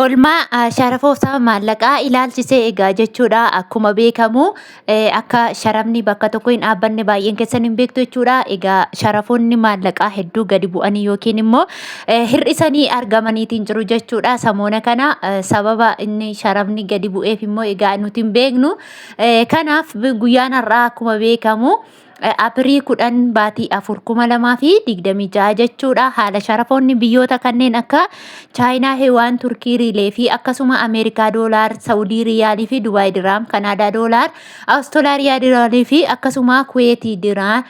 Olmaa sharafooftaa maallaqaa ilaalchisee egaa jechuudha akkuma beekamu akka sharafni bakka tokko hin dhaabbanne baay'een keessan hin beektu jechuudha egaa sharafoonni maallaqaa hedduu gadi bu'anii yookiin immoo hir'isanii argamaniitiin jiru jechuudha samoona kana sababa inni sharafni gadi bu'eef immoo egaa nuti hin beeknu kanaaf guyyaan har'aa akkuma beekamu Apirii 10 baatii 4 2026 jechuudha. Haala sharafoonni biyyoota kanneen akka Chaayinaa, Hiwaan, Turkii, Riilee fi akkasuma Ameerikaa Doolaar, Saawudii Riyaalii fi Dubaay Diraam, Kanaadaa Doolaar, Awustolaariyaa Diraalii fi akkasuma Kuweetii Diraar,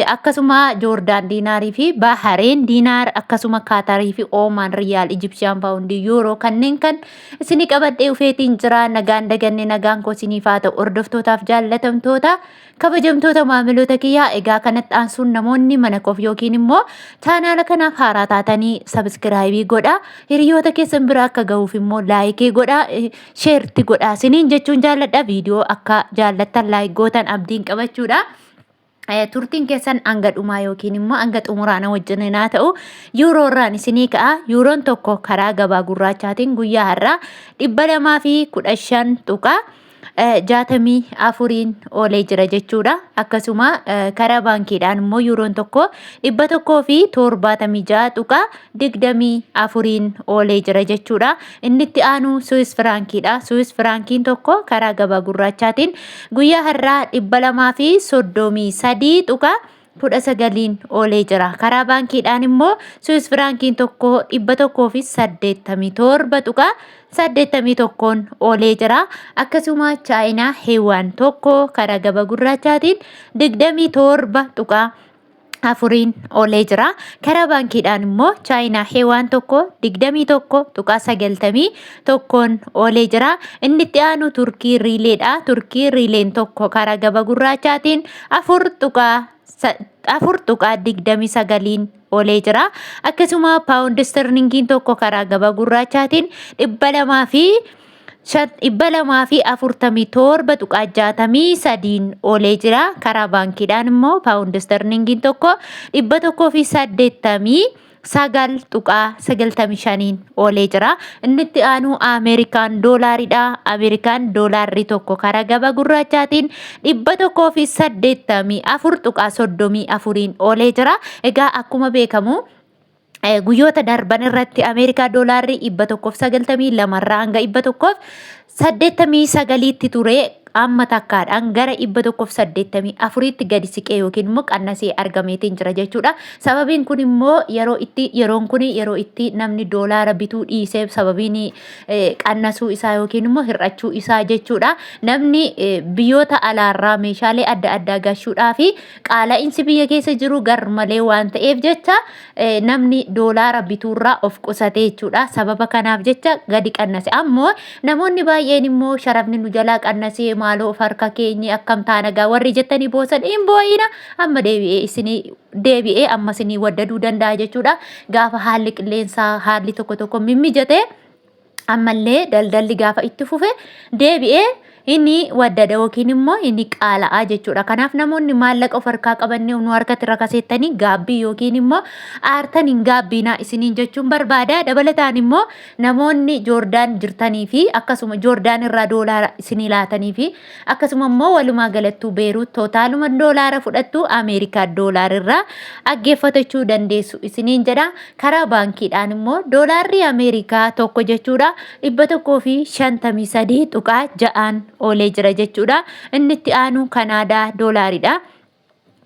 akkasuma Joordaan Diinaarii fi Bahareen Diinaar, akkasuma Kaatarii fi Oomaan Riyaal, Ijipsiyaan Paawundii, Yuuroo kanneen kan isinii qabadhee ufeetiin jira. Nagaan daganne nagaan koo isiniif haa ta'u. Hordoftootaaf jaallatamtoota. Kabajamtoota maamiloota kiyyaa egaa kanatti aansuun namoonni mana koof yookiin immoo chaanaala kanaaf haaraa taatanii sabiskiraayibii godha. Hiriyoota keessan bira akka gahuuf immoo laayikii godha. Sheerti godha. Siniin jechuun jaalladha. Viidiyoo akka jaallattan laayik gootan abdiin qabachuudha. turtiin keessan hanga dhumaa yookiin immoo hanga xumuraana wajjin naa ta'u yuuroo irraan isinii ka'a yuuroon tokko karaa gabaa gurraachaatiin guyyaa har'aa dhibba lamaa fi kudha shan tuqaa jaatamii afuriin oolee jira jechuudha. Akkasuma karaa baankiidhaan immoo yuuroon tokko dhibba tokkoo fi torbaatamii ja'a tuqaa digdamii afuriin oolee jira jechuudha. Inni itti aanu Suwis Firaankiidha. Suwis Firaankiin tokko karaa gabaa gurraachaatiin guyyaa har'aa dhibba lamaa fi soddomii sadii tuqaa kudha sagaliin oolee jira. Karaa baankiidhaan immoo Swiss firaankiin tokko dhibba tokkoo fi saddeettamii torba tuqaa saddeettamii tokkoon oolee jira. Akkasuma Chaayinaa Heewaan tokko karaa gaba gurraachaatiin digdamii torba tuqaa afuriin oolee jira. Karaa baankiidhaan immoo Chaayinaa Heewaan tokko digdamii tokko tuqaa sagaltamii tokkoon oolee jira. Inni itti aanu Turkii Riileedha. Turkii Riileen tokko karaa gaba gurraachaatiin afur tuqaa sa- afur tuqaa digdamii sagaliin olee jira. Akkasuma paawundi istirlingiin tokko karaa gabaa gurraachaatiin dhibba lamaa fi shan- dhibba lamaa fi afurtamii torba tuqaa jaatamii sadiin olee jira. Karaa baankiidhaan immoo paawundi istirlingiin tokko dhibba tokkoo fi saddeettamii sagal tuqaa sagaltamii shaniin oolee jira. Innitti aanuu Ameerikaan doolaariidha. Ameerikaan doolaarri tokko karaa gaba gurraachaatiin dhibba tokkoo fi saddeettamii afur tuqaa soddomii afuriin oolee jira. Egaa akkuma beekamu guyyoota darban irratti Ameerikaa doolaarri dhibba tokkoof sagaltamii lamarraa hanga dhibba tokkoof 89tti ture amma takkaadhaan gara 184tti gadi siqee yookiin immoo qannasee argameetiin jira jechuudha. Sababiin kun immoo yeroo itti yeroon kun yeroo itti namni doolaara bituu dhiisee sababiin qannasuu isaa yookiin immoo hir'achuu isaa jechuudha. Namni biyyoota alaarraa meeshaalee adda addaa gashuudhaa fi qaala'insi biyya keessa jiru garmalee waan ta'eef jecha namni doolaara bituurraa of qusate jechuudha. Sababa kanaaf jecha gadi qannase. Ammoo namoonni baay'een immoo sharafni nu jalaa qannasee maaloo of harka keenye akkam taanagaa warri jettanii boosan hin boo'ina amma deebi'ee isinii deebi'ee amma isinii waddaduu danda'a jechuudha. Gaafa haalli qilleensaa haalli tokko tokko mimmijate. ammallee daldalli gaafa itti fufe deebi'ee inni waddada yookiin immoo inni qaala'aa jechuudha. Kanaaf namoonni maallaqa of harkaa qaban nu harkatti rakaseettanii gaabbii yookiin immoo aartan hin gaabbiinaa isiniin jechuun barbaada. Dabalataan immoo namoonni Joordaan jirtanii fi akkasuma Joordaan irraa doolaara isinii laatanii fi Akkasuma immoo walumaa galattuu Beeruut tootaaluma doolaara fudhattu Ameerikaa doolaarirraa aggeeffatachuu dandeessu isiniin jedha. Karaa baankiidhaan immoo doolaarri Ameerikaa tokko jechuudha dhibba tokkoo fi shantamii sadii tuqaa ja'aan oolee jira jechuudha. Inni itti aanu Kanaadaa doolaariidha.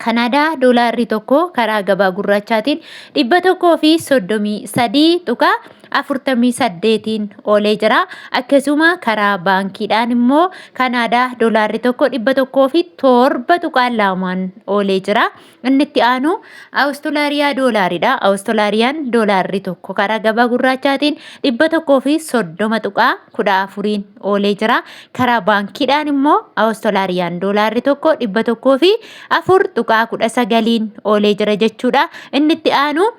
Kanaadaa doolaarri tokko karaa gabaa gurraachaatiin 133.48n oolee jira. Akkasuma karaa baankiidhaan immoo Kanaadaa doolaarri tokko 107.2n oolee jira. Inni itti aanu Awustolaariyaa doolaariidha. Awustolaariyaan doolaarri tokko karaa gabaa gurraachaatiin 130.14n oolee jira. Karaa baankiidhaan immoo Awustolaariyaan doolaarri tokko dhibba tokkoo fi afur tuqaa kudha sagaliin oolee jira jechuudha. Inni itti aanu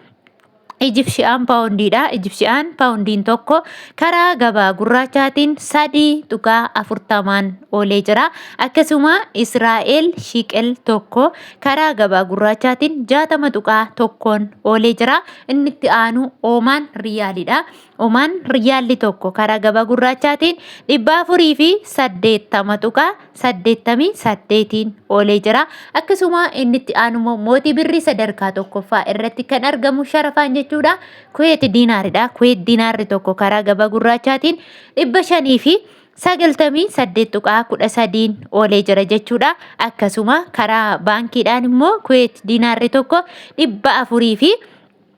Ijipshiyaan paawundiidha. Ijipshiyaan paawundiin tokko karaa gabaa gurraachaatiin sadii tuqaa afurtamaan oolee jira. Akkasuma Israa'el shiiqel tokko karaa gabaa gurraachaatiin jaatama tuqaa tokkoon oolee jira. Inni itti aanu Oomaan riyaaliidha. Omaan riyaalli tokko karaa gabaa gurraachaatiin 480.88n oolee jira. Akkasuma inni itti aanummoo mootii birrii sadarkaa tokkoffaa irratti kan argamu sharafaan jechuudha. Kuweet diinaaridha. Kuweet diinaarri tokko karaa gabaa gurraachaatiin 598.13n oolee jira jechuudha. Akkasuma karaa baankiidhaan immoo kuweet diinaarri tokko 400 fi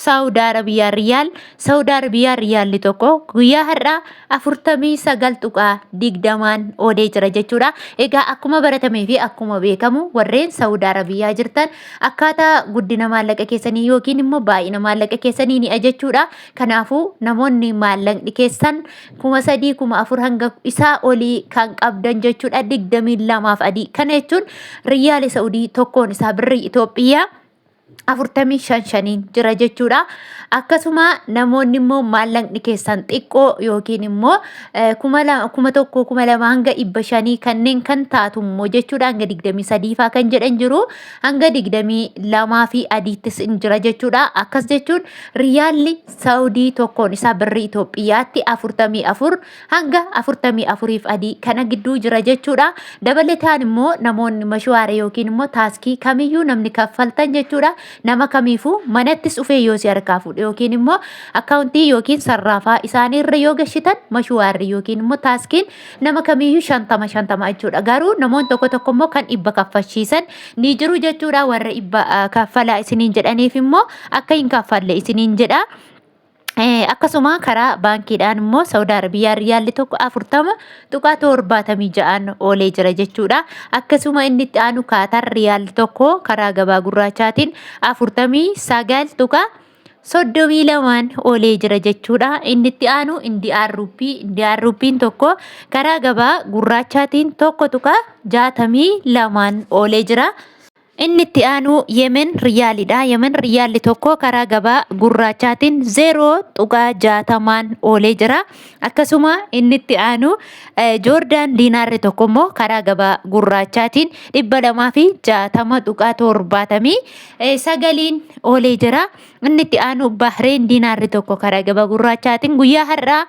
Saawud Arabiyaa Riyaal Saawud Arabiyaa Riyaalli tokko guyyaa har'aa afurtamii sagal tuqaa digdamaan oodee jira jechuudha. Egaa akkuma baratamee fi akkuma beekamu warreen Saawud Arabiyaa jirtan akkaataa guddina maallaqa keessanii yookiin immoo baay'ina maallaqa keessanii ni ajachuudha. Kanaafuu namoonni maallaqni keessan kuma sadii kuma afur hanga isaa olii kan qabdan jechuudha digdamii lamaaf adii. Kana jechuun Riyaali Saawudii tokkoon isaa birrii Itoophiyaa afurtamii shan shaniin jira jechuudha. Akkasuma namoonni immoo maallaqni keessan xiqqoo yookiin immoo eh, kuma lama- kuma tokko kuma lama hanga dhibba shanii kanneen kan taatu immoo jechuudha hanga digdamii sadiifaa kan jedhan jiru hanga digdamii lamaa fi adiittis in jira jechuudha. Akkas jechuun riyaalli saawudii tokkoon isaa birrii Itoophiyaatti afurtamii afur hanga 44f adii kana gidduu jira jechuudha. Dabalataan immoo namoonni mashuwaara yookiin immoo taaskii kamiyyuu namni kaffaltan jechuudha. Nama kamiifuu manattis dhufee yoo si harkaa fuudhe yookiin immoo akkaawuntii yookiin sarraafaa isaanii irra yoo gashitan mashuwaarri yookiin immoo taaskiin nama kamiyyuu shantama shantama jechuudha. Garuu namoonni tokko tokko immoo kan dhibba kaffalchiisan ni jiru jechuudha. Warra dhibba kaffalaa isiniin jedhaniif immoo akka hin kaffalle isiniin jedha. Akkasuma karaa baankiidhaan immoo Saudi Arabiyaa riyaalli tokko afurtama tuqaa torbaatamii ja'aan oolee jira jechuudha. Akkasuma inni itti aanu kaatar riyaalli tokko karaa gabaa gurraachaatiin afurtamii sagal tuqaa soddomii lamaan oolee jira jechuudha. Inni itti aanu Indiyaan ruuppii Indiyaan ruuppiin tokko karaa gabaa gurraachaatiin tokko tuqaa jaatamii lamaan oolee jira. Inni itti aanu Yemen Riyaaliidha. Yemen Riyaalli tokko karaa gabaa gurraachaatiin 0.60n oolee jira. Akkasuma inni itti aanu Joordaan Diinaarri tokko immoo karaa gabaa gurraachaatiin 260.79n oolee jira. Inni itti aanu Bahreen Diinaarri tokko karaa gabaa gurraachaatiin guyyaa har'aa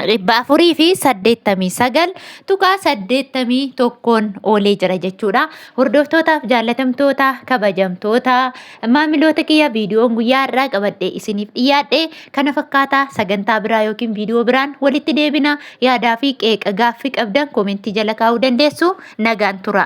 dhibba afurii fi saddeettamii sagal tuqaa saddeettamii tokkoon oolee jira jechuudha. Hordoftootaaf jaallatamtoota kabajamtoota maamiloota kiyya viidiyoon guyyaa irraa qabadhee isiniif dhiyaadhe kana fakkaataa sagantaa biraa yookiin viidiyoo biraan walitti deebina yaadaa fi qeeqa gaaffii qabdan koomentii jala kaa'uu dandeessu nagaan tura.